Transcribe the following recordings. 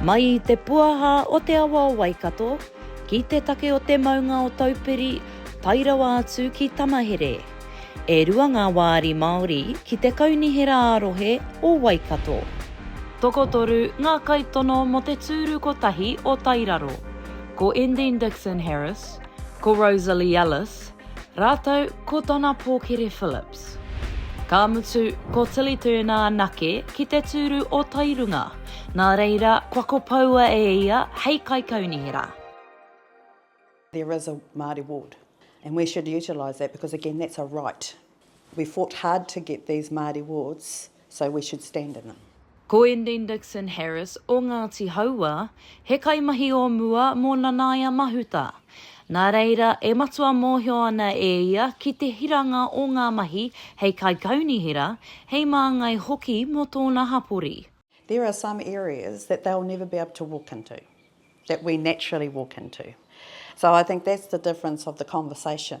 Mai i te puaha o te awa o Waikato, ki te take o te maunga o Taupiri, tae rawa atu ki Tamahere. E rua ngā wāri Māori ki te kaunihera ā-rohe o Waikato. Tokotoru ngā kaitono mō te tūru kotahi o Tairaro. Ko Endine Dixon Harris, Ko Rosalie Ellis, rātou ko tana pōkere Phillips. Ka mutu, ko Tilly Turner anake ki te tūru o Tairunga, nā reira kua kopoua e ia hei kaikaunihera. There is a Māori ward and we should utilise that because again that's a right We fought hard to get these Māori wards, so we should stand in them. Ko Endene Dixon Harris o Ngāti Hauā, he kaimahi o mua mō Nanaia Mahuta. Nā reira, e matua mōhio ana e ia ki te hiranga o ngā mahi hei kaikaunihera, hei māngai hoki mō tōna hapori. There are some areas that they'll never be able to walk into, that we naturally walk into. So I think that's the difference of the conversation.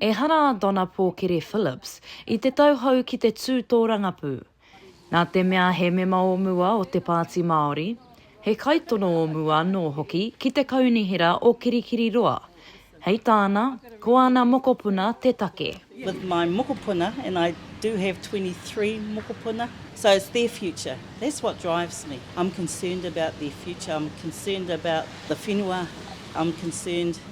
Ehara a Donna Pōkere Phillips i te tau hou ki te tū tōrangapū. Nā te mea he mema o mua o te Pāti Māori, he kaitono o mua anō hoki ki te Kaunihera o Kirikiriroa, hei tāna, ko ana mokopuna te take. with my mokopuna and I do have twenty three mokopuna so it's their future that's what drives me I'm concerned about their future I'm concerned about the whenua I'm concerned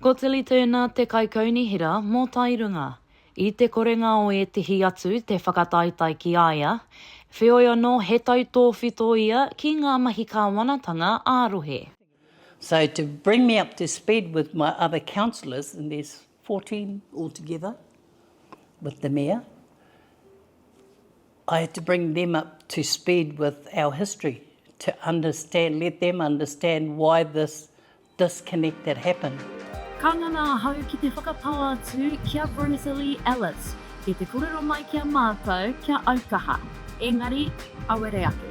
Ko Tilly Turner te kaikaunihera mō Tairunga. I te korenga o ētehi atu te whakataetae ki a ia, wheoi anō he tautōwhito ia ki ngā mahi kāwanatanga ā-rohe. So to bring me up to speed with my other councillors, and there's fourteen altogether with the mayor, I had to bring them up to speed with our history to understand, let them understand why this disconnect that happened. Ka ngana ahau ki te whakatau atu ki a Rosalie Ellis ki te korero mai ki a matou kia aukaha, engari awere ake.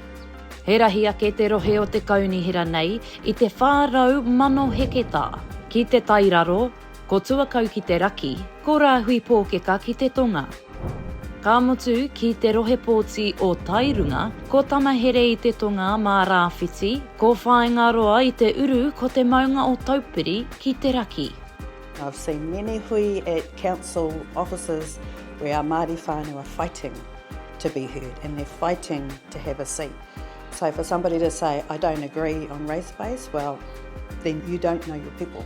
He rahi ake te rohe o te kaunihera nei i te 400 mano heketā. Ki te tairaro, Ko Tuakau ki te raki, ko Rāhui Pōkeka ki te tonga. Ka mutu, ki te rohe pōti o Tairunga, ko Tamahere i te tonga mā Rāwhiti, ko Whāingaroa i te uru ko te maunga o Taupiri ki te raki. I've seen many hui at council offices where our Māori whānau are fighting to be heard and they're fighting to have a seat. So for somebody to say, I don't agree on race base, well, then you don't know your people.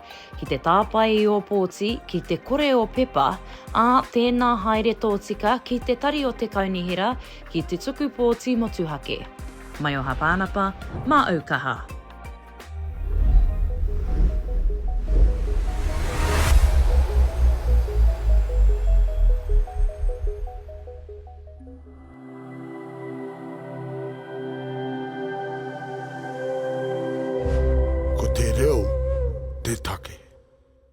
Ki te tāpae i ō pōti, ki te kore ō pepa, ā, tēnā haere tōtika ki te tari o te Kaunihera ki te tuku pōti motuhake. Maioha Pānapa, mā au kaha. Ko te reo te take.